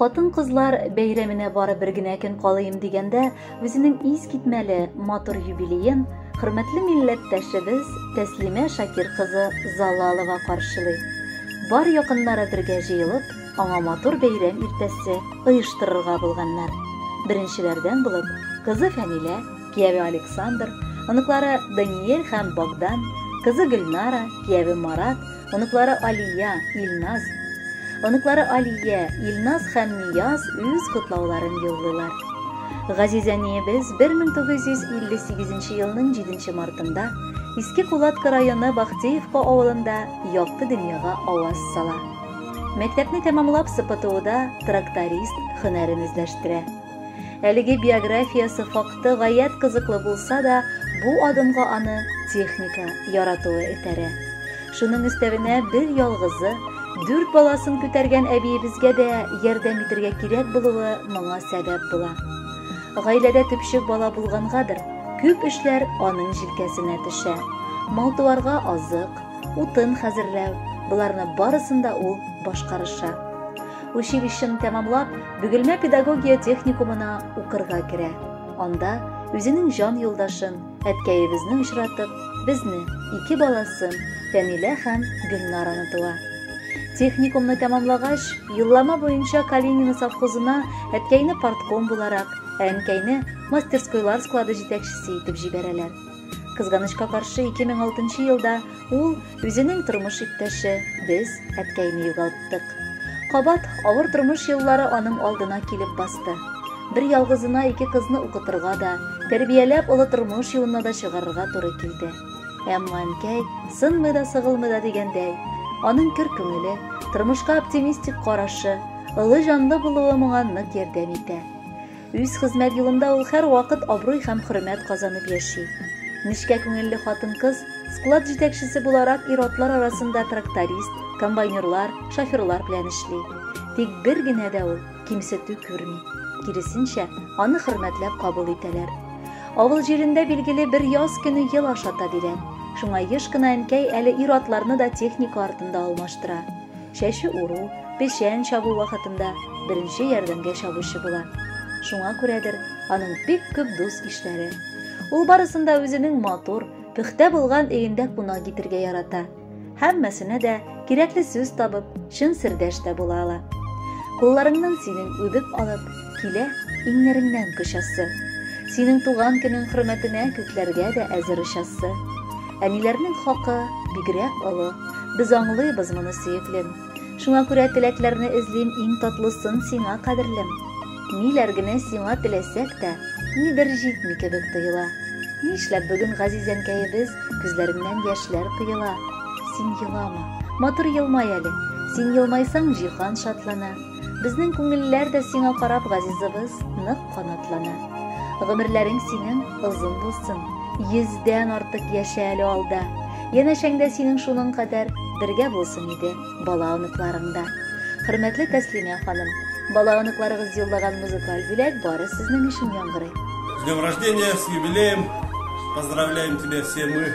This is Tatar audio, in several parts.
хатын-кызлар бәйрәменә бары бер генә көн калыйм дигәндә, үзенең ис китмәле матур юбилеен хөрмәтле милләттәшебез Тәслимә Шакир кызы Залалова каршылый. Бар якыннары бергә җыелып, аңа матур бәйрәм иртәсе оештырырга булганнар. Беренчеләрдән булып кызы Фәнилә кияве Александр, оныклары Даниэль һәм Богдан, кызы Гөлнара, кияве Марат, оныклары Алия, Илназ. Оныклары Алия, Илназ һәм Нияз үз котлауларын юллыйлар. Газиз әниебез 1958 елның 7 мартында Иске Кулатка районы Бахтеевка авылында якты дөньяга аваз сала. Мәктәпне тәмамлап СПТУда тракторист һөнәрен үзләштерә. Әлеге биографиясе факты гаять кызыклы булса да, бу адымга аны техника яратуы этәрә. Шуның өстәвенә бер ялгызы, дүрт баласын күтәргән әбиебезгә дә ярдәм итергә кирәк булуы моңа сәбәп була. Гаиләдә төпчек бала булгангадыр, күп эшләр аның җилкәсенә төшә. Малтуарга азык, утын хәзерләү, боларны барысын да ул башкарыша. Училищены тәмамлап, Бөгелмә педагогия техникумына укырга керә. Анда үзенең җан юлдашын, әткәебезне очратып, безне, ике баласын, Фәнилә һәм Гөлнараны туа. Техникумны тәмамлагач, юллама буенча Калинино совхозына әткәйне партком буларак, ә әнкәйне мастерскойлар склады җитәкчесе итеп җибәрәләр. Кызганычка каршы 2006 елда ул үзенең тормыш иптәше, без әткәйне югалттык. Кабат авыр тормыш еллары аның алдына килеп басты. Бер ялгызына ике кызны укытырга да, тәрбияләп олы тормыш юлына да чыгарырга туры килде. Әмма әнкәй сынмый да сыгылмый да дигәндәй, аның көр күңеле, тормышка оптимистик карашы, ылы җанлы булуы моңа нык ярдәм итә. Үз хезмәт юлында ул һәрвакыт абруй һәм хөрмәт казанып яши. Нечкә күңелле хатын-кыз склад җитәкчесе буларак ир-атлар арасында тракторист, комбайнерлар, шоферлар белән эшли. Тик бер генә дә ул кимсетү күрми. Киресенчә, аны хөрмәтләп кабул итәләр. Авыл җирендә билгеле бер яз көне ел ашата бирә. Шуңа еш кына әнкәй әле ир-атларны да техника артында алмаштыра. Чәче уру, печән чабу вакытында беренче ярдәмгә чабучы була. Шуңа күрәдер, аның бик күп дус-ишләре. Ул барысын да үзенең матур, пөхтә булган өендә кунак итергә ярата. Һәммәсенә дә кирәкле сүз табып, чын сердәш тә була ала. Кулларыңнан синең үбеп алып, Килә иңнәреңнән кочасы. Синең туган көнең хөрмәтенә Күкләргә дә әзер очасы. Әниләрнең хакы бигрәк олы, Без аңлыйбыз моны, сөеклем. Шуңа күрә теләкләрне эзлим Иң татлысын сиңа, кадерлем. Ниләр генә сиңа теләсәк тә, Нидер җитми кебек тоела. Нишләп бүген газизәнкәебез Күзләреннән яшьләр коела? Син елама, матур елмай әле, Син елмайсаң, җиһан шатлана. Безнең күңелләр дә сиңа карап, газизыбыз, нык канатлана. Гомерләрең синең озын булсын. Йөздән артык яшә әле алда. Янәшәңдә синең шуның кадәр бергә булсын иде бала оныкларың да. Хөрмәтле Тәслимә ханым, бала оныкларыгыз юллаган музыкаль бүләк бары сезнең өчен яңгырый. С днем рождения, с юбилеем! Поздравляем тебя все мы!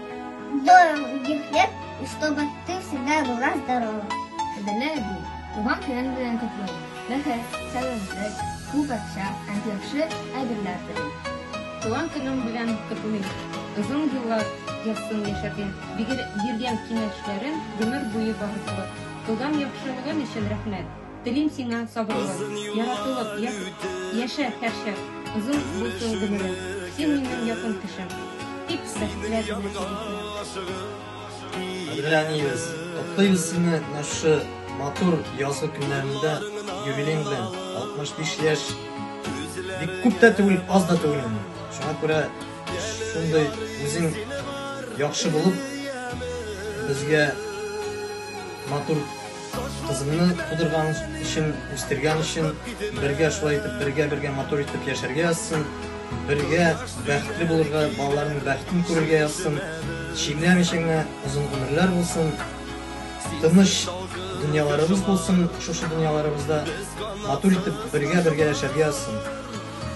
Долгих лет, и чтобы ты всегда была здорова. Кадерле әби, туган көнен белән котлыйм. Бәхет, сәламәтлек, күп акча һәм яхшы әйберләр телим. Туган көнең белән котлыйм. Озын еллар язсын яшәргә, биргән киңәшләрең гомер буе багышлы. Кылган яхшылыгың өчен рәхмәт. Телим сиңа сабырлык, яратылып, яшә һәрчак, озын булсын гомерең, син минем якын кешем. Тик бәхетләр Әдерәниебез, котлыйбыз сине менә шушы матур язгы көннәрендә юбилең белән 65 яшь. Бик күп тә түгел, аз да түгел инде. Шуңа күрә шундый үзең яхшы булып, безгә матур Кызымны тудырган өчен, үстергән өчен, бергә шулай итеп, бергә-бергә матур итеп яшәргә язсын, бергә бәхетле булырга, балаларының бәхетен күрергә язсын, чирләмичә генә озын гомерләр булсын, тыныч дөньяларыбыз булсын, шушы дөньяларыбызда матур итеп бергә-бергә яшәргә язсын.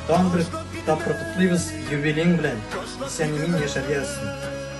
Тагын бер тапкыр котлыйбыз юбилеең белән, исән-имин яшәргә язсын.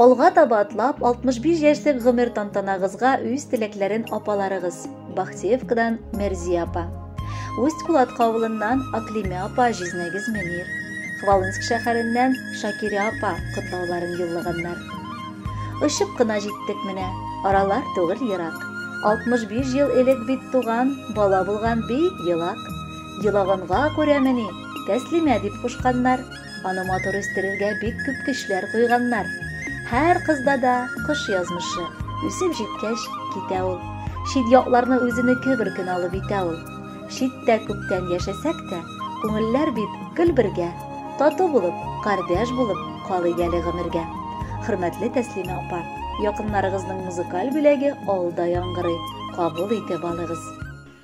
Алга таба атлап 65 яшьлек гомер тантанагызга үз теләкләрен апаларыгыз Бахтеевкадан Мәрзия апа. Усть Кулатка авылыннан Аклиме апа Җизнәгез Мөнир. Хвалынск шәһәреннән Шакирә апа котлауларын юллаганнар. Очып кына җиттек менә, аралар түгел ерак. 65 ел элек бит туган, бала булган бик елак. Елаганга күрәмени, тәслимә дип кушканнар. Аны матур үстерергә бик күп көчләр куйганнар. Һәр кызда да кош язмышы. Үсеп җиткәч, китә ул. Чит якларны үзенеке бер көн алып итә ул. Читтә күптән яшәсәк тә, күңелләр бит гел бергә. Тату булып, кардәш булып калыйк әле гомергә. Хөрмәтле Тәслимә апа, якыннарыгызның музыкаль бүләге алда яңгырый, кабул итеп алыгыз.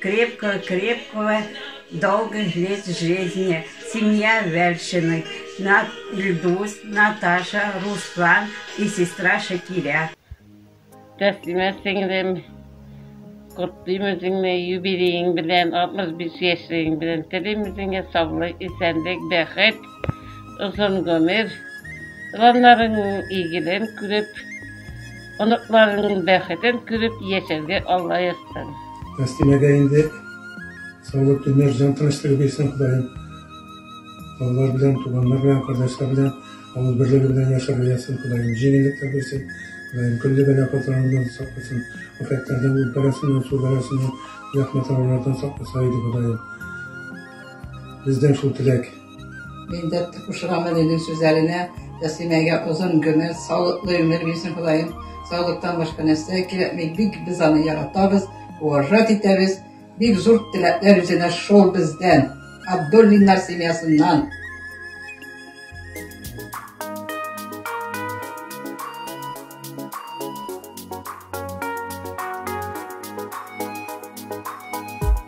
Крепко крепкого долгих лет жизни семья вәлшиных на ильдус наташа руслан и сестра шакиря. Тәслимә сеңлем, котлыйм үзеңне юбилеең белән, 65 яшьлегең белән. Телим үзеңә саулык, исәнлек, бәхет, озын гомер. Планнарың игелен күреп, Оныкларының бәхетен күреп яшәргә Алла язсын. Тәслимәгә инде саулык төннәр җан тынычлыгы бирсен Ходаем. Балалар белән, туганнар белән, кардәшләр белән авыл берлеге белән яшәргә язсын Ходаем. Җиңеллекләр бирсен Ходаем. Көлле бәла казаларыннан сакласын. Афәтләрдән, ут бәласыннан, су бәласыннан, зәхмәт авырулардан сакласа иде Ходаем. Бездән шул теләк. Мин дә кушыламын инде сүзләренә. Тәслимәгә озын гомер, саулыклы гомер бирсен Ходаем. Саулыктан башка нәрсә кирәкми. Бик без аны яратабыз, уважать итәбез. Бик зур теләкләр үзенә шул бездән. Абдуллиннар семьясыннан.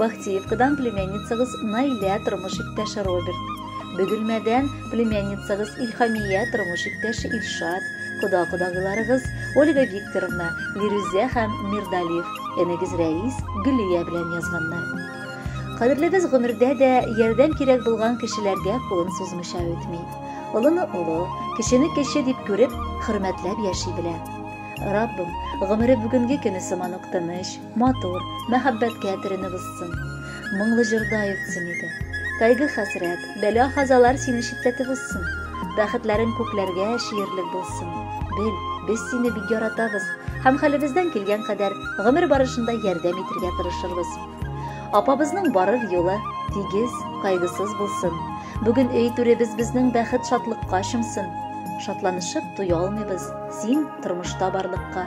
Бахтиевкадан племянницагыз Наилә тормыш иптәше Роберт. Бөгелмәдән племянницагыз Илхамия тормыш иптәше Илшат, кода-кодагыйларыгыз Ольга Викторовна, Лирүзә һәм Мирдалиф, энегез Рәис, Гөлия белән язганнар. Кадерлебез гомердә дә ярдәм кирәк булган кешеләргә кулын сузмыйча үтми. Олыны олы, кечене кече дип күреп, хөрмәтләп яши белә. Раббым, гомере бүгенге көне сыман ук тыныч, Матур, мәхәббәткә теренеп узсын. Моңлы җырда йөксен иде. Кайгы хәсрәт, бәла хазалар сине читләтеп узсын. Бәхетләрең күкләргә чиерлек булсын. Бел, без сине бик яратабыз һәм хәлебездән килгән кадәр гомер барышында ярдәм итергә тырышырбыз. Апабызның барыр юлы тигез, кайгысыз булсын. Бүген өй түребез безнең бәхет шатлыкка чумсын. Шатланышып туя алмыйбыз, син тормышта барлыкка.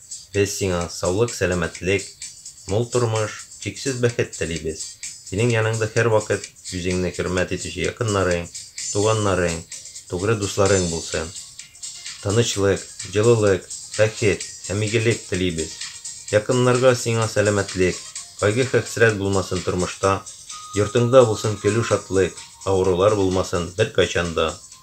Без сиңа саулык, сәламәтлек, мул тормыш, чиксез бәхет телибез. Синең яныңда һәрвакыт үзеңне хөрмәт итүче якыннарың, туганнарың, тугры дусларың булсын. Тынычлык, җылылык, бәхет һәм игелек телибез. Якыннарга, сиңа сәламәтлек, кайгы-хәсрәт булмасын тормышта, йортыңда булсын көлү-шатлык, авырулар булмасын беркайчан да.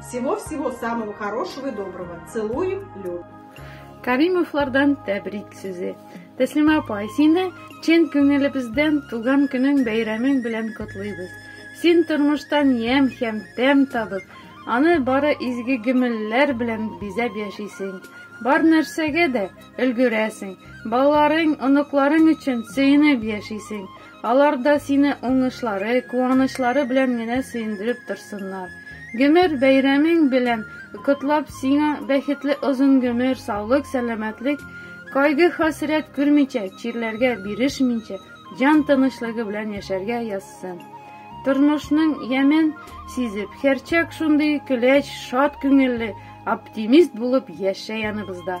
Всего всего самого хорошего и доброго. Целуем, Лю. Каримовлардан тәбрик сүзе. Тәслимә апа, сине чын күңелебездән туган көнең бәйрәмең белән котлыйбыз. Син тормыштан ямь һәм тәм табып, аны бары изге гөмелләр белән бизәп яшисең. Бар нәрсәгә дә өлгерәсең. Балаларың, оныкларың өчен сөенеп яшисең. Алар да сине уңышлары, куанычлары белән генә сөендереп торсыннар. Гомер бәйрәмең белән котлап, сиңа бәхетле озын гомер, саулык, сәламәтлек, кайгы-хәсрәт күрмичә, чирләргә бирешмичә, җан тынычлыгы белән яшәргә язсын. Тормышның ямен сизеп, һәрчак шундый көләч, шат күңелле, оптимист булып яшә яныбызда.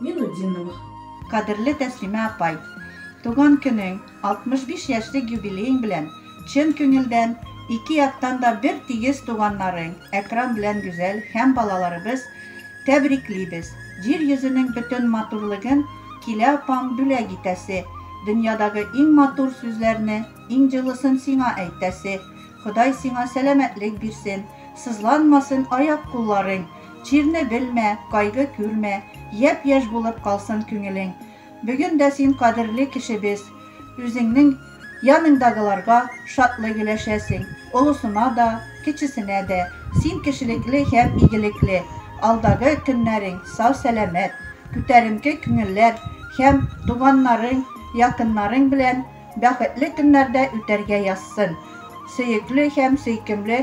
Минутдиновых. Кадерле Тәслимә апай! Туган көнең, 65 яшьлек юбилеең белән, чын күңелдән, ике яктан да бер тигез туганнарың Әкрам белән Гүзәл һәм балаларыбыз тәбриклибез. Җир йөзенең бөтен матурлыгын килә апаң бүләк итәсе, дөньядагы иң матур сүзләрне, иң җылысын сиңа әйтәсе. Ходай сиңа сәламәтлек бирсен, сызланмасын аяк-кулларың, Чирне белмә, кайгы күрмә, Япь-яшь булып калсын күңелең. Бүген дә син кадерле кешебез, Үзеңнең яныңдагыларга Шатлык өләшәсең, олысына да, Кечесенә дә. Син кешелекле һәм игелекле, Алдагы көннәрең сау-сәламәт, Күтәренке күңелләр һәм Туганнарың, якыннарың белән Бәхетле көннәрдә үтәргә язсын, Сөекле һәм сөйкемле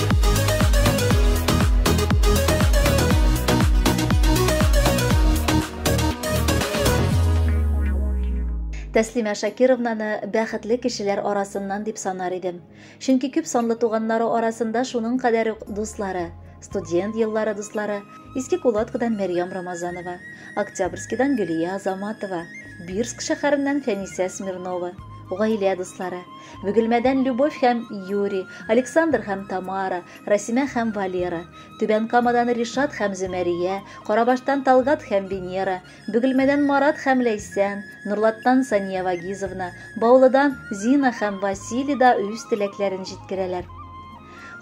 Тәслимә Шакировнаны бәхетле кешеләр арасыннан дип санар идем. Чөнки күп санлы туганнары арасында шуның кадәр үк дуслары, студент еллары дуслары, Иске Кулаткадан Мәрьям Рамазанова, Октябрьскидан Гөлия Азаматова, Бирск шәһәреннән Фәнисә Смирнова, гаилә дуслары, Бөгелмәдән Любовь һәм Юрий, Александр һәм Тамара, Расимә һәм Валера, Түбән Камадан Ришат һәм Зөмәрия, Карабаштан Талгат һәм Венера, Бөгелмәдән Марат һәм Ләйсән, Норлаттан Сания Вагизовна, Баулыдан Зина һәм Василий да үз теләкләрен җиткерәләр.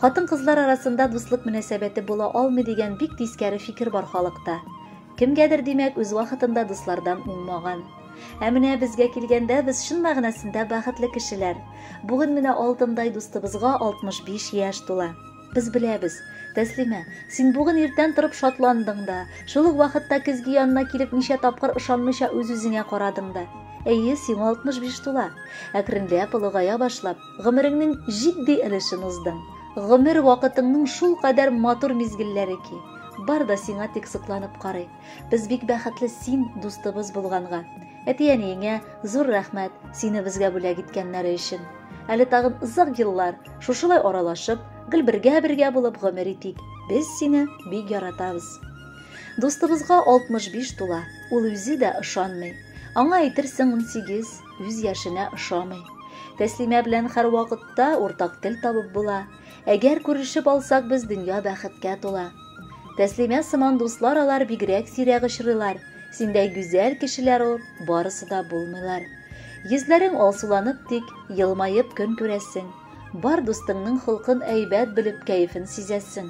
Хатын-кызлар арасында дуслык мөнәсәбәте була алмый дигән бик тискәре фикер бар халыкта. Кемгәдер, димәк, үз вакытында дуслардан уңмаган. Ә менә безгә килгәндә, без чын мәгънәсендә бәхетле кешеләр. Бүген менә алтындай дустыбызга 65 яшь тула. Без беләбез, Тәслимә, син бүген иртән торып шатландың да, шул ук вакытта көзге янына килеп ничә тапкыр ышанмыйча үз-үзеңә карадың да. Әйе, сиңа 65 тула. Әкренләп, олыгая башлап, Гомереңнең җитди өлешен уздың. Гомер вакытыңның шул кадәр матур мизгелләре ки. Бар да сиңа тик сокланып карый. Без бик бәхетле син дустыбыз булганга. Әти-әниеңә зур рәхмәт, сине безгә бүләк иткәннәре өчен. Әле тагын озак еллар шушылай аралашып, гел бергә-бергә булып гомер итик. Без сине бик яратабыз. Дустыбызга 65 тула, ул үзе дә ышанмый. Аңа әйтерсең унсигез. Үз яшенә ошамый. Тәслимә белән һәрвакытта уртак тел табып була. Әгәр күрешеп алсак, без дөнья бәхеткә тула. Тәслимә сыман дуслар алар бигрәк сирәк очрыйлар. Синдәй гүзәл кешеләр ул, барысы да булмыйлар. Йөзләрең алсуланып тик, елмаеп көн күрәсең. Бар дустыңның холкын әйбәт белеп, кәефен сизәсең.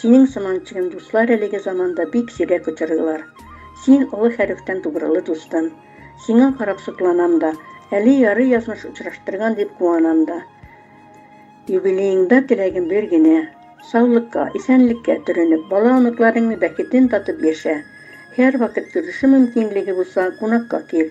Синең сыман чыгым дуслар әлеге заманда бик сирәк очрыйлар. Син олы хәрефтән тугрылы дустым. Сиңа карап сокланам да, әле ярый язмыш очраштырган дип куанам да. Юбилееңда теләгем бер генә, саулыкка, исәнлеккә төренеп, бала-оныкларыңны бәхетен татып яшә. Һәрвакыт күрешү мөмкинлеге булса, кунакка кил.